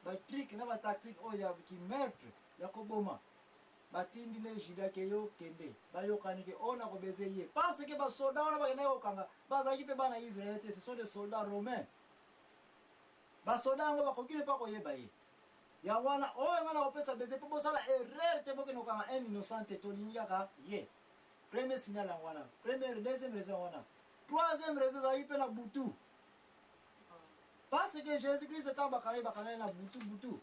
Ba trick na ba tactique oyo ya ki meurtre ya ko boma ba tindi ne Juda ke yo kende ba yokani ke on a ko baiser ye parce que ba soldats wana ba kenda ko kanga ba zaki pe bana Israël te ce sont des soldats romains ba soldats ngo ba ko kine pa ko yeba ye ya wana oyo nga na ko pesa baiser pe bosala erreur te bokende kokanga un innocent te tolingi kaka ye premier signal yango wana première deuxième raison wana troisième raison ezalaki mpe na butu Parce que Jésus-Christ ntango bakanga ye bakanga ye na butu butu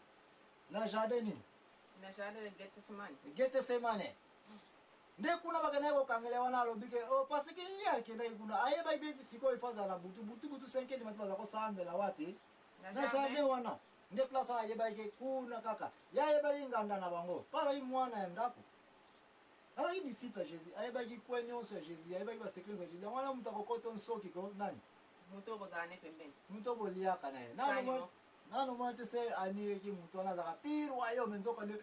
na jardin nini? Na jardin ya Gethsemane. Gethsemane. nde kuna bakendaki kokangela wana alobi ke oh, parce que ye akendaki kuna ayebaki mpe sikoyo ifo azala na butu butu butu senkeli mati baza kosambela wapi na jardin wana nde place wana ayebaki kuna kaka ye ayebaki nganda na bango mpo azalaki mwana ya ndako azalaki disciple ya jésus ayebaki kwe nyonso ya jésus ayebaki basekle nyonso ya jésus yango wana moto akokota nsoki ko nani moto oyo bozala ne pembeni moto oyo boliaka na ye nano mwana te se aniyeki moto wana azalaka pire wayo me nzoka nde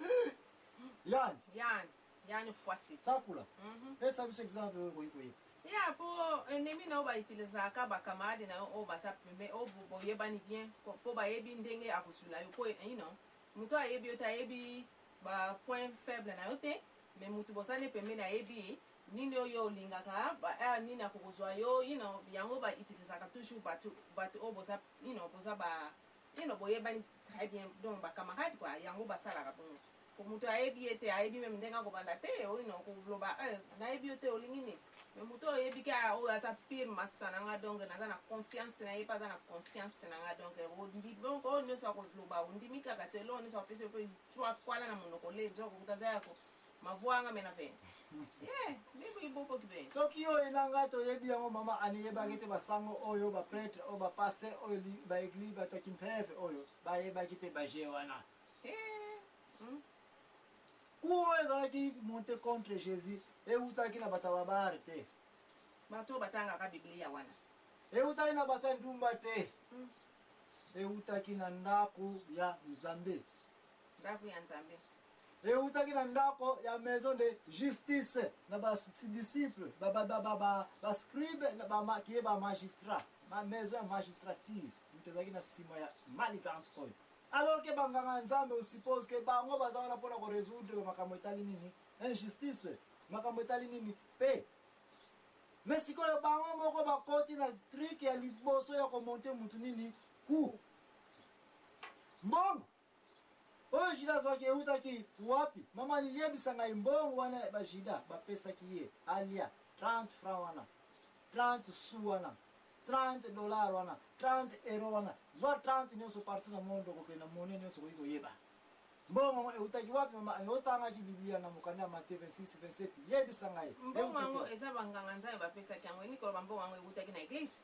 yani yani yani fwasi sakula mhm. pesa biso exemple oyo okoki koyeba ya po ennemi na yo bautilisaka bacamarade na yo oyo baza pembe oyo boyebani bien po bayebi ndenge akosula yo po ino eh, moto ayebi yo te ayebi bapoint faible na yo te mais moto bozali pembeni ayebi ye Nini oyo olingaka ba heure nini ako kozua yo you know yango ba utilisaka toujours batu batu oyo boza you know boza ba you know boyebani très bien donc ba camarade quoi yango basalaka bongo po mutu ayebi ye te ayebi meme ndenge akobanda te you know koloba eh nayebi yo te olingi nini mais mutu oyo oyebi ke ah, oyo aza pire masa na nga donc naza na confiance na ye pe aza na confiance na nga donc ondi donc oyo nyonso akoloba ondimi kaka te eloko nyonso apesi yo pe cua kwala na monoko le nzokokuta aza yako Mavuanga mena ve. Yeah, meko ibobo kibe. Soki yo enanga to yebi yango mama ani yeba kete ba sango oyo ba prêtre oyo ba pasteur oyo li ba église ba to kimpeve oyo ba yeba kite ba je wana. Eh. Hmm? Cour oyo ezalaki monte contre Jésus ewutaki na bata ba bar te. Bato batangaka Biblia wana. Ewutaki na bata ndumba te. Hmm. Ewutaki na ndako ya Nzambe. Ndako ya Nzambe. Ewutaki na ndako ya maison de justice na ba disciples ba ba ba ba ba, ba scribes na ba ma, qui est ba magistrat ma maison ya magistrature mutu ezalaki na sima ya manigance oyo alors que banganga nzambe on suppose que bango baza wana mpona ko résoudre makambo etali nini injustice makambo etali nini pe me sikoyo bango moko bakoti na trike ya liboso ya komonte mutu nini ku mbongo Oyo Juda azwaki eutaki wapi? Mama liebisa ngai mbongo wana ba Juda bapesaki ye alia 30 francs wana 30 sous wana 30 dollars wana 30 euro wana zwa 30 nionso partout na monde okokende na mone nionso okoki koyeba mbongo yango eutaki wapi mama ani otangaki biblia na mokanda ya matie 26 27 yebisa ngai mbongo yango eza banganga nzambe bapesaki yango elingi koloba mbongo yango eutaki na eglise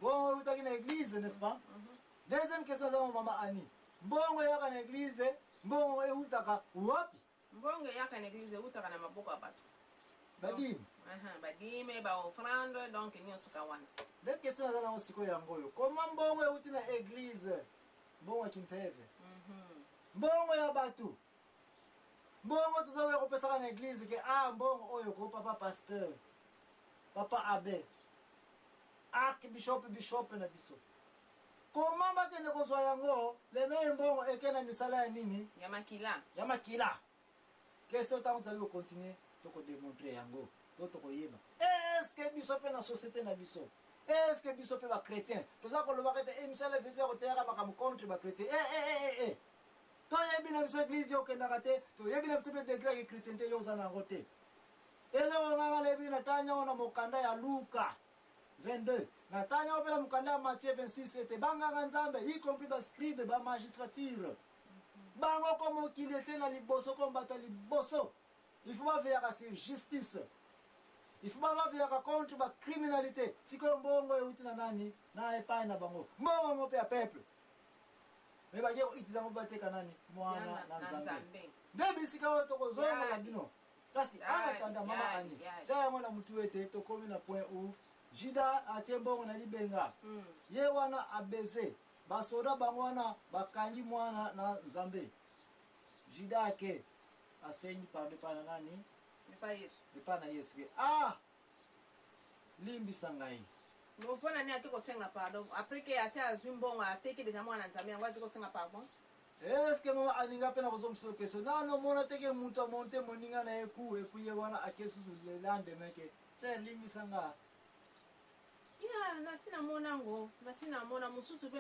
bongo eutaki na eglise n'est-ce pas mm -hmm. Deuxième question zango mama Annie. Mbongo eyaka na eglise, mbongo ewutaka wapi? Mbongo eyaka na eglise ewutaka na maboko ya bato. Badime. Uh -huh, badime, ba offrande, donc nyonso ka wana. Deux questions naza nango sikoyo yango oyo. Comment mbongo ewuti na eglise? Mbongo ya kimpeve. Mm -hmm. Mbongo ya bato. Mbongo tozoya kopesaka na eglise ke ah mbongo oyo ko papa pasteur. Papa abbé. Archbishop bishop na biso. Comment bakende kozwa yango le meme mbongo eke na misala ya nini? Ya makila. Ya makila. Question tango tozali ko continuer toko demontrer yango to tokoyeba. Est-ce que biso pe na société na biso est-ce que biso pe ba chrétiens toza kolobaka ete emission eh, la vie ya koteyaka makambo contre ba chrétiens eh eh eh eh, eh. toyebi na biso église yo okendaka te toyebi na biso pe degré ya chrétienté yo oza na yango te eloko ngai nalebi na tanya wana mokanda ya luka 22. Na tangi yango mpe na mokanda ya Matthieu 26 ete banganga Nzambe, y compris ba scribes, ba magistrature, bango ko mokili etie na liboso ko mbata liboso il faut baveyaka sur justice il faut baveyaka contre ba criminalité sikoyo mbongo euti na nani na epai na bango mbongo yango mpe ya peuple me bake koitiza yango bateka nani mwana na nzambe nde bisika oyo tokozonga na bino kasi ah, ana tanda mama ani tia yango na motu ete tokomi na point ou juda atie mbongo na libenga hmm. ye wana abeze basoda bango wana bakangi mwana na nzambe juda ake asengi pardon epai na nani epai na yesu ke ah limbisa ngai. Bon pona nini ake kosenga pardon après que asi azwi mbongo ateki deja mwana nzambe yango ake kosenga pardon. Est ce que maman Annie nga pe nakozongisa yo question nano mona te ke mutu a monte moninga na ye coup et puis ye wana ake susu le lendemain ke sœur limbisa nga ya nasi namona ngo nasi namona mosusu pe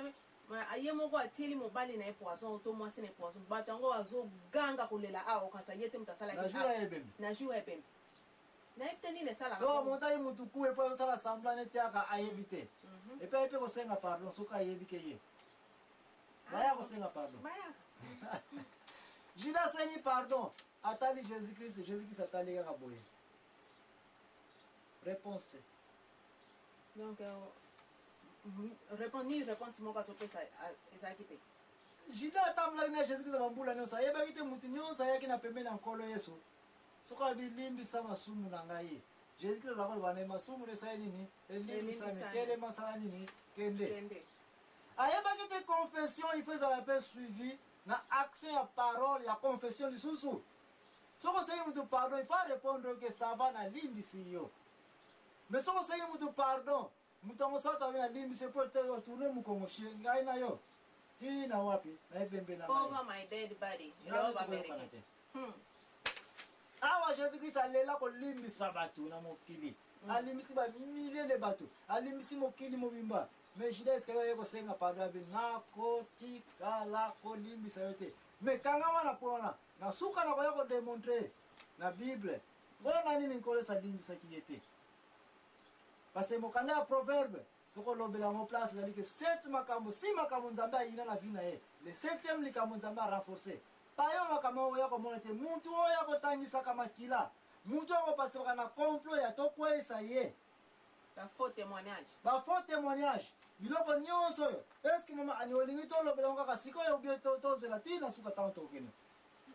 ye moko atieli mobali na ye poison to mwasi na ye poison bato yango azoganga kolela awa okanisa ye te moto asalaki na jour ya ebembe nayebi te nini esalaka to moto aye motu kuwe mpo azosala sambla neti aka ayebi te mhm. epe aye mpe kosenga pardon soki ayebi ke ye ah, baya kosenga pardon juda asengi pardon atali jésus christ jésus christ atali kaka boye réponse te donc euh, mhm, répondre réponse moko azopesa ezalaki te juda atambolaki na jésus christ bambula nyonso ayebaki te motu nyonso ayaki na pembeni ya nkolo yesu Soko abi limbisa masumu na ngai. Jesus Christ aza koloba na masumu na esali nini? Elimbisami. Telema sala nini? Kende. Kende. Ayebaki te confession il faut ezala mpe suivi na action ya parole ya confession lisusu. Soko osengi moto pardon, il faut arepondre que ça va na limbisi yo. Mais soko osengi moto pardon, Moto ya mosato abe na limbisi po te yo tourne mukongo chez ngai na yo ti na wapi na ebembe na ngai. Over my dead body. Love America. Hmm. Awa Jesus Christ alela kolimbisa bato na mokili. Hmm. Alimbisi ba milliers de bato. Alimbisi mokili mobimba. Mais Judas Iscariot aye kosenga pardon abe nakotikala kolimbisa yo te. Mais kanga wana mpo wana na suka na koya kodemontre na Bible mpo na nini nkolo esalimbisaki ye te. Parce que mokanda ya Proverbe tokolobela yango place ezali ke sept makambo si makambo Nzambe ayina na vie na ye le septième likambo Nzambe a renforcer payo makambo yango oya komona te mutu oyo akotangisaka makila mutu oyo akopasibaka na complot ya tokweisa ye ba faux témoignage ba faux témoignage biloko nyonso oyo eske mama ani olingi tolobela yango kaka sikoyo obie tozela tii na suka ntango tokokende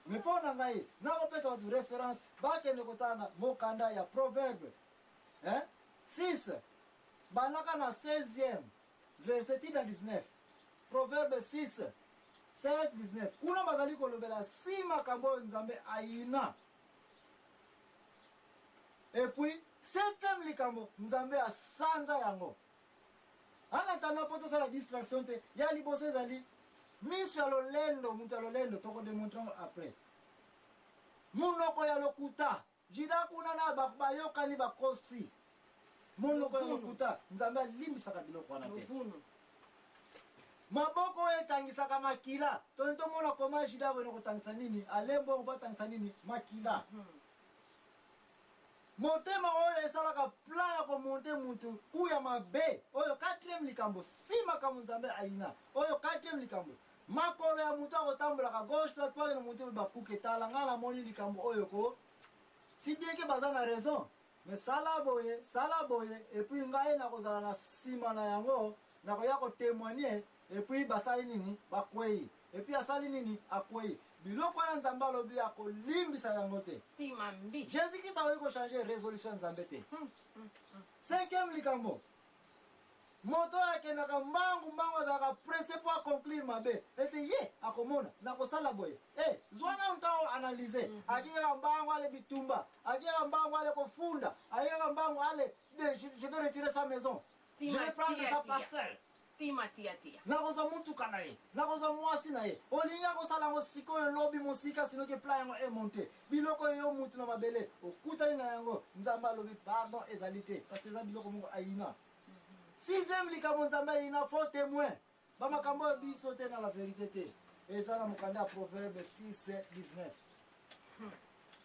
Mais po na ngai nako pesa batu reference bakende kotanga mokanda ya Proverbe hein 6 balaka na 16e verset ti na 19 Proverbe 6 16 19 kuna bazali kolobela si makambo oyo Nzambe ayina epuis septième likambo nzambe asanza yango En attendant mpo tosala distraction te ya liboso ezali miso ya lolendo moto ya lolendo tokodemontre yango après monoko ya lokuta jida kuna na bayokani bakosi monoko ya lokuta nzambe alimbisaka biloko wana te maboko oyo etangisaka makila toni tomona koma jida boyena kotangisa nini alembongo batangisa nini makila hmm. Motema oyo esalaka plan ya ko monter mutu ou ya mabe oyo quatrième likambo si makambo Nzambe ayina oyo quatrième likambo makolo ya mutu akotambolaka gauche droite po akende mutu ba kuke tala nga namoni likambo oyo ko si bien ke baza na raison mais sala boye sala boye et puis ngai nakozala na sima na yango nakoya ko temoigner Et puis basali nini bakweyi et puis asali nini akweyi biloko wana nzambe alobi akolimbisa yango te timambi jésus christ akoki kochange résolution ya nzambe te hmm, hmm, hmm. cinquième likambo moto oyo akendaka mbangu mbangu azalaka presse mpo aconclure mabe ete ye akomona nakosala boye e eh, zwa nanu ntango analyse mhm. akikaka mbangu ale bitumba akikaka mbangu ale kofunda akikaka mbangu ale je vais retirer sa maison je vais prendre sa parcelle Tima tia tia. Nakozwa mutuka na ye. Nakozwa muasi na ye. Olingi akosala yango sikoyo, lobi, mosika, sinon que plan yango e monter. Biloko oyo yo mutu na mabele okutani na yango, Nzambe alobi pardon ezali te parce que eza biloko moko ayina. Sixième likambo Nzambe ayina, faux temoin. Ba makambo oyo biso te na la verite te. Eza na mokanda ya Proverbe 6, 19.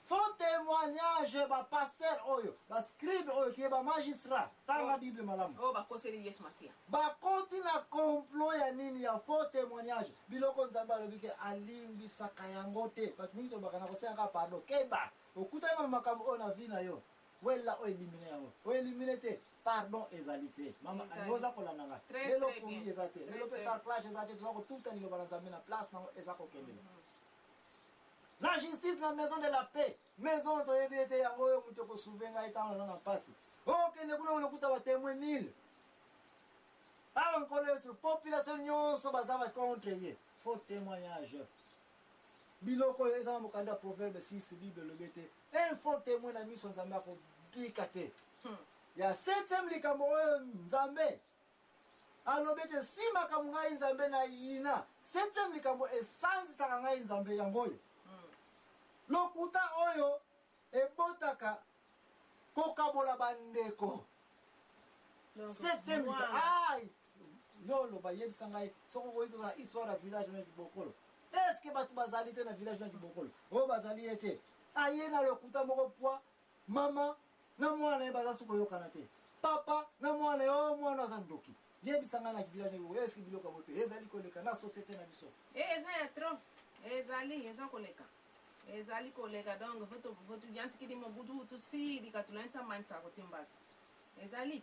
Faux temoignage ba pasteur oyo ba scribe oyo kiye ba magistrat tanga oh. bible malamu oyo oh, bakoseli yesu masiya bakoti na complot ya nini ya faux temoignage biloko nzambe alobi ke alimbisaka yango te bato mingi tolobaka na kosengaka pardon keba okutana na makambo oyo na vi na yo wella oyo elimine yango oyo elimine te pardon ezali te mama oza kolanda nga lelo pongi eza te lelo mpe sarclage eza te toza kotuta liloba na nzambe na place nango eza kokendela mm-hmm. La justice na maison de la paix. Maison oyo toyebi ete yango oyo moto ekosouve ngai ntango naza na mpasi. Okende oh, kuna olokuta batemwe mille. Awa nkolo Yesu, population nyonso baza ba contre ye. Faux témoignage. Biloko oyo eza na mokanda proverbe 6 Bible elobi ete un faux témoin na miso Nzambe akobika te. Hmm. Ya septième likambo oyo Nzambe alobi ete si makambo ngai nzambe na yina septième likambo esanzisaka ngai nzambe yango oyo hmm. lokuta oyo ebotaka kokabola bandeko septième ah, yo oloba yebisa ngai soki okoki kozala histoire ya village na libokolo eske bato bazali te na village na libokolo oyo bazali ye te aye na lokuta moko pwa Mama na mwana naye baza suko yokana te papa na mwana yo mwana aza ndoki yebisa nga na village nayo est ce que biloko yango pe ezali koleka na societe na biso eh eza ya trop ezali eza koleka ezali koleka donc voto voto yantikidi mobudu utusidi katulantsa mansa kotimbasa ezali